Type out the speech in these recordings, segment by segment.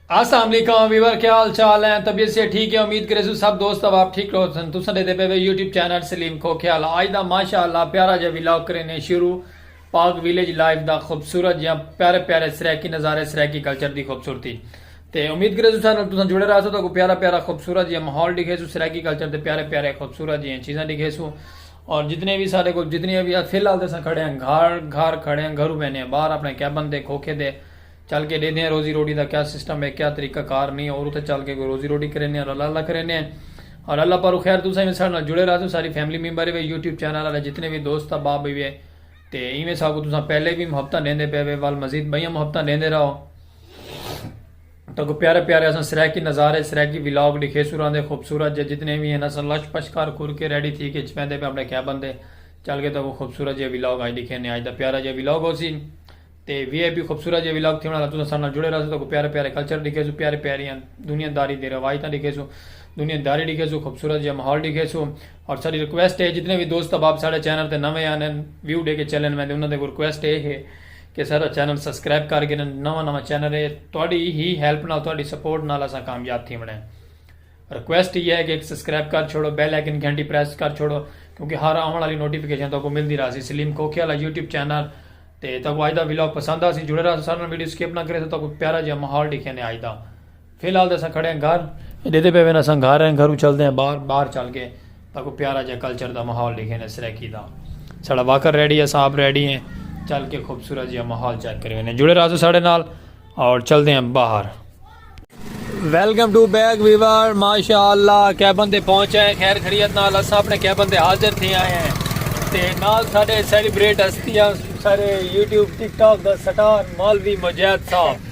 السلام علیکم ویور کیا حال چال ہیں طبیعت سے ٹھیک ہے امید کرے سو سب دوست اب آپ ٹھیک رہو سن تو سن دے پے وے یوٹیوب چینل سلیم کو خیال آج دا ماشاءاللہ پیارا جا ویلاگ کرے نے شروع پاک ویلیج لائف دا خوبصورت یا پیارے پیارے سریکی نظارے سریکی کلچر دی خوبصورتی تے امید کرے سو سن تو سن جڑے رہا سو تو کو پیارا پیارا خوبصورت یا ماحول دکھے سو سریکی کلچر دے پیارے پیارے خوبصورت جی چیزاں دکھے سو اور جتنے وی سارے کول جتنیاں وی فی الحال تے اساں کھڑے ہیں گھر گھر کھڑے ہیں گھروں بینے ہیں باہر اپنے کیبن تے کھوکھے تے چل کے ڈیدھے ہیں روزی روٹی دا کیا سسٹم ہے کیا طریقہ کار نہیں اور اتھے چل کے کوئی روزی روٹی کرینے ہیں اور اللہ اللہ کرینے ہیں اور اللہ پارو خیر تساں وی ساڈے نال جڑے راہسو ساری فیملی ممبر وی یوٹیوب چینل والے جتنے وی دوست احباب وی ہے تے ایویں ساکو تساں پہلے وی محبتاں ڈیندے پے وے ول مزید بئیاں محبتاں ڈیندے راہو تہاکوں پیارے پیارے اساں سرائیکی نظارے سرائیکی ولاگ ڈکھیسوں راندے خوبصورت جے جتنے وی ہن اساں لش پش کر کر کے ریڈی تھی کے اچ ویندے پے اپنے کیبن دے چل کے تہاکوں خوبصورت جیہا ولاگ اج ڈکھینے اج دا پیارا جیہا ولاگ ہوسی تے وی آئی پی خوبصورت جیہا ولاگ تھیونڑ آلا تساں ساڈے نال جڑے رہسو تہاکوں پیارے پیارے کلچر ڈکھیسوں پیارے پیاریاں دنیا داری دے روایتاں ڈکھیسوں دنیا داری ڈکھیسوں خوبصورت جیہا ماحول ڈکھیسوں اور ساڈی ریکویسٹ ہے جتنے وی دوست احباب ساڈے چینل تے نویں آن ہن ویو ڈے کے چلن ویندے انہاں دے اگوں ریکویسٹ اے ہے کہ ساڈا چینل سبسکرائب کر گھنن نواں نواں چینل ہے تہاڈی ہی ہیلپ نال تہاڈی سپورٹ نال اساں کامیاب تھیونڑ ہیں ریکویسٹ ایہا ہے کہ ایک سبسکرائب کر چھوڑو بیل آئیکن گھنٹی پریس کر چھوڑو کیونکہ ہر آون والی نوٹیفیکیشن تہاکوں ملدی راہسی سلیم کھوکھے والا یوٹیوب چینل تے تہاکوں اج دا ولاگ پسند آسی جڑے راہسو سارے نال ویڈیو سکپ نہ کریسو تہاکوں پیارا جیا ماحول ڈیکھیندے اج دا فی الحال تے اساں کھڑے ہیں گھر ڈیدے پے وین اساں گھر ہیں گھرو چلدے ہیں باہر باہر چل کے تاکو پیارا جا کلچر دا ماحول لکھے نے سرائیکی دا ساڑا واکر ریڈی ہے صاحب ریڈی ہیں چل کے خوبصورت جا ماحول چیک کرے وینے جڑے رازو ساڑے نال اور چلدے ہیں باہر ویلکم ٹو بیک ویور ماشاءاللہ کیبن دے پہنچے ہیں خیر خریت نال اساں اپنے کیبن دے حاضر تھی آئے ہیں تے نال ساڑے سیلیبریٹ ہستیاں سارے یوٹیوب ٹک ٹاک دا سٹار مالوی مجید صاحب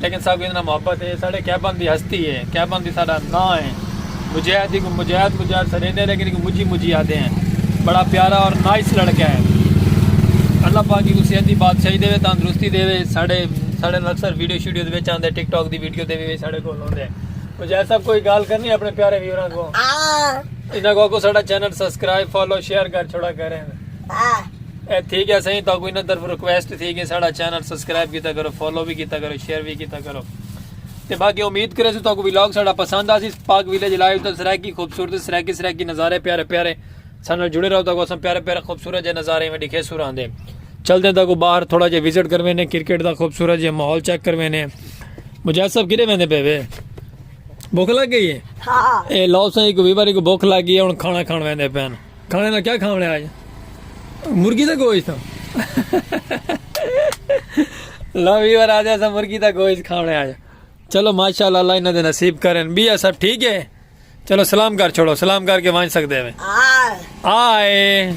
لیکن ساکوں ایندے نال محبت ہے، ایہ ساڈے کیبن دی ہستی ہے، کیبن دی ساڈا ناں ہے۔ مجاہد دی کوں مجاہد مجاہد سڈیندے ہیں لیکن ایکوں مجی مجی آدھے ہیں۔ بڑا پیارا اور نائس لڑکا ہے۔ اللہ پاک ایکوں صحت دی بادشاہی دے، تندرستی دے، ساڈے ساڈے نال اکثر ویڈیو شیڈیو وچ آندے ٹک ٹاک دی ویڈیو تے وی ساڈے کول ہوندے۔ مجاہد صاحب کوئی گالھ کرنی اپنے پیارے ویوراں کوں۔ انہاں کوں آکھو ساڈا چینل سبسکرائب فالو شیئر کر چھوڑا کریں۔ اے تھی گیا سائیں تو کوئی نہ طرف ریکویسٹ تھی گئی ساڑا چینل سبسکرائب کیتا کرو فالو بھی کیتا کرو شیئر بھی کیتا کرو تے باقی امید کرے سو تو کوئی ولاگ ساڑا پسند آسی پاک ویلیج لائیو تو سرائیکی خوبصورت سرائیکی سرائیکی نظارے پیارے پیارے سانل جڑے رہو تو اساں پیارے پیارے خوبصورت جے نظارے میں دکھے سو راندے چل دیں تو باہر تھوڑا جے وزٹ کروے نے کرکٹ دا خوبصورت جے ماحول چیک کروے نے مجاہد صاحب کدے ویندے پے وے بھوک لگ گئی ہے ہاں۔ اے لو سائیں کو وی باری کو بھوک لگ گئی ہے ہن کھانا کھان ویندے پین کھانے دا کیا کھاونے آج مرغی دا گوشت لو ویور آدھے اسا مرغی دا گوشت کھاونے آج چلو ماشاءاللہ اللہ انہاں دے نصیب کرن بیا سب ٹھیک ہے چلو سلام کر چھوڑو سلام کر کے وانچ سکتے ہیں آئے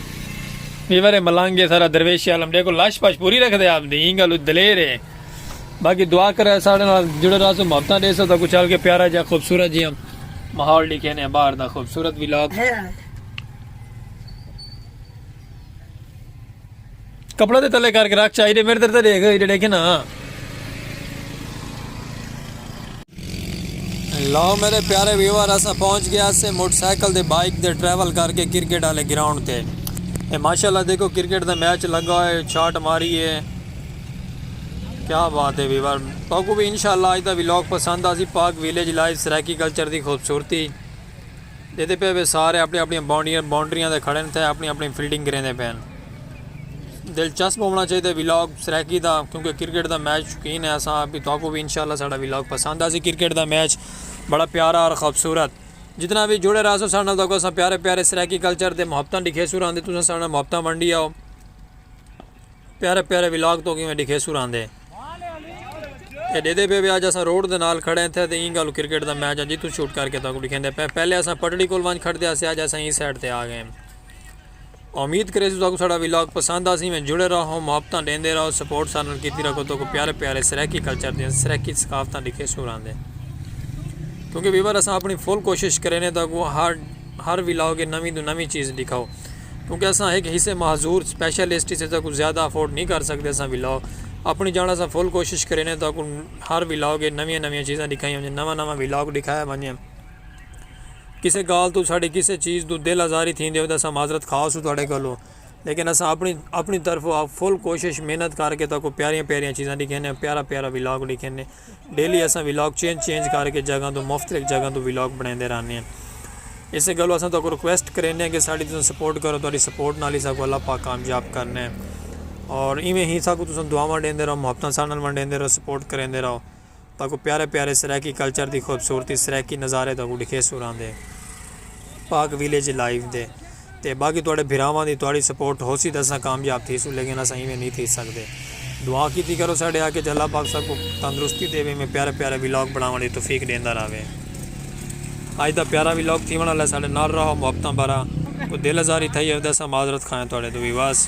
ویور ملانگے سارا درویش عالم دیکھو لاش پاش پوری رکھ دے آپ دی انگل دلیر ہے باقی دعا کرے ساڑے نال جڑے رہا سو محبتاں دے سو تا کچھ ہلکے پیارا جا خوبصورت جی ہم ماحول لکھے نے باہر دا خوبصورت ولاگ کپڑا دے تلے کر کے رکھ چاہیے میرے در تے دیکھ ایڈے دیکھے نا لو میرے پیارے ویور اسا پہنچ گیا سے موٹر سائیکل دے بائک دے ٹریول کر کے کرکٹ والے گراؤنڈ تے اے ماشاءاللہ دیکھو کرکٹ دا میچ لگا ہوئے چھاٹ ماری ہے کیا بات ہے ویور توکوں بھی انشاءاللہ اج دا ویلاگ پسند آسی Pak village life Saraiki culture دی خوبصورتی دیتے پے وے سارے اپنی اپنی بانڈیاں بانڈریاں دے کھڑے تھے اپنی اپنی فیلڈنگ کریں دے پین دلچسپ ہونا چاہیے دے ویلاگ سرائیکی دا کیونکہ کرکٹ دا میچ شکین ہے اساں بھی توکوں بھی انشاءاللہ ساڑا ویلاگ پسند آسی کرکٹ دا میچ بڑا پیارا اور خوبصورت جتنا بھی جڑے رہا سو ساڑا توکوں اساں پیارے پیارے سرائیکی کلچر دے محبتاں دکھے سو رہاں دے تو ساڑا محبتاں منڈی آؤ پیارے پیارے ولاگ توکیں میں ڈکھیسو راندے تے ڈیدے پے وے آج اساں روڈ دے نال کھڑے ہیں تھے تے ایں گالو کرکٹ دا میچ آن جیتوں شوٹ کر کے تاکو ڈکھیں دے پے پہلے اساں پٹڑی کول وانج کھڑ دے آسے آج اساں ایں سیڈ تے آگئے ہیں امید کرے سو تاکو ساڑا ولاگ پسند آسیں میں جڑے رہا ہوں محبتاں ڈیندے رہا ہوں سپورٹ سارنل کیتی رکھو تاکو پیارے پیارے سریکی کلچر دیں سریکی سکافتاں ڈکھے سو راندے کیونکہ ویور اساں اپنی فل کوشش کرے نے تاکو ہر ہر ولاگ نوی دو نوی چیز ڈکھاؤ کیونکہ اساں ہک حصے معذور اسپیشلسٹ اسے تاں کو زیادہ افورڈ نہیں کر سکتے اساں ولاگ اپنی جان اساں فل کوشش کریں نے تاں کو ہر ولاگ اچ نویاں نویاں چیزاں دکھائیاں ونجن نواں نواں ولاگ دکھایا ونجے کسے گال توں ساڈی کسے چیز توں دل آزاری تھیندی ہووے تاں اساں معذرت خواہ ہسوں تہاڈے کولوں لیکن اساں اپنی اپنی طرفوں فل کوشش محنت کر کے تہاکوں پیاریاں پیاریاں چیزاں دکھیندے پیارا پیارا ولاگ دکھیندے۔ ڈیلی اساں ولاگ چینج چینج کر کے جگہاں توں مختلف جگہاں توں ولاگ بنڑیندے رہنے ہیں اسے گلو اساں تہاکوں ریکویسٹ کرینے ہیں کہ ساڈی تساں سپورٹ کرو تہاڈی سپورٹ نال ہی ساکوں اللہ پاک کامیاب کرنے ہیں اور ایویں ہی ساکوں تساں دعاواں ڈیندے رہو محبتاں ساڈے نال ونڈیندے رہو سپورٹ کریندے رہو تہاکوں پیارے پیارے سرائیکی کلچر دی خوبصورتی سرائیکی نظارے تہاکوں ڈکھیسوں راندے پاک ویلیج لائیو دے۔ تے باقی تہاڈے بھراواں دی تہاڈی سپورٹ ہوسی تے اساں کامیاب تھیسوں لیکن اساں ایویں نی تھی سگدے دعا کیتی کرو ساڈے حق اچ اللہ پاک ساکوں تندرستی تے ایویں ایویں پیارے پیارے ولاگ بنڑاونڑ دی توفیق ڈیندا رہوے اج دا پیارا ولاگ تھیونڑ آلا ہے ساڈے نال رہو محبتاں بھرا کوئی دل آزاری تھئی ہووے تے اساں معذرت خواہ ہیں تہاڈے توں ویورز۔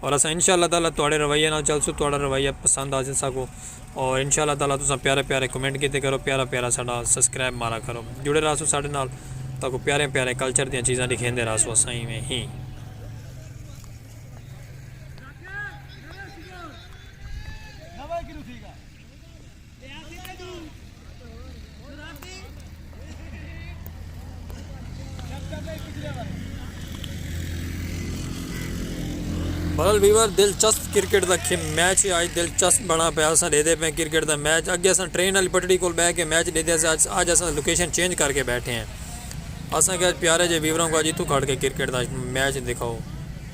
اور اساں انشاء اللہ تعالی تہاڈے رویے نال چلسوں تہاڈا رویہ پسند آ جساکو اور انشاء اللہ تعالی تساں پیارے پیارے کمنٹ کیتے کرو پیارا پیارا ساڈا سبسکرائب مارا کرو جڑے رہسو ساڈے نال تاکو پیارے پیارے کلچر دیاں چیزاں ڈکھیندے رہسو اساں ایویں ہی بہرحال ویور دلچسپ کرکٹ دا کھے میچ ہے آج دلچسپ بنا پہ آسان دے دے پہ کرکٹ دا میچ اگے آسان ٹرین علی پٹڑی کول بے کے میچ دے دے آج آسان لوکیشن چینج کر کے بیٹھے ہیں آسان کہ آج پیارے جے ویوروں کو آج ہی تو کھڑ کے کرکٹ دا میچ دکھاؤ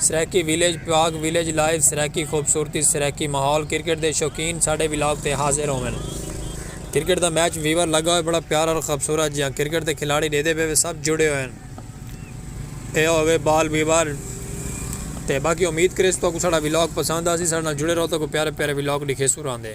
Saraiki village Pak village live Saraiki خوبصورتی سرائیکی ماحول کرکٹ دے شوقین ساڈے ولاگ تے حاضر ہوون کرکٹ دا میچ ویور لگا ہوئے بڑا پیارا اور خوبصورت جیاں کرکٹ دے کھلاڑی ڈیدے پے وے سب جڑے ہوئے ہن اے ہووے بال ویور تے باقی امید کریس تہاکوں ساڈا ولاگ پسند آسی ساڈے نال جڑے رہو تہاکوں پیارے پیارے ولاگ ڈکھیسوں راندے۔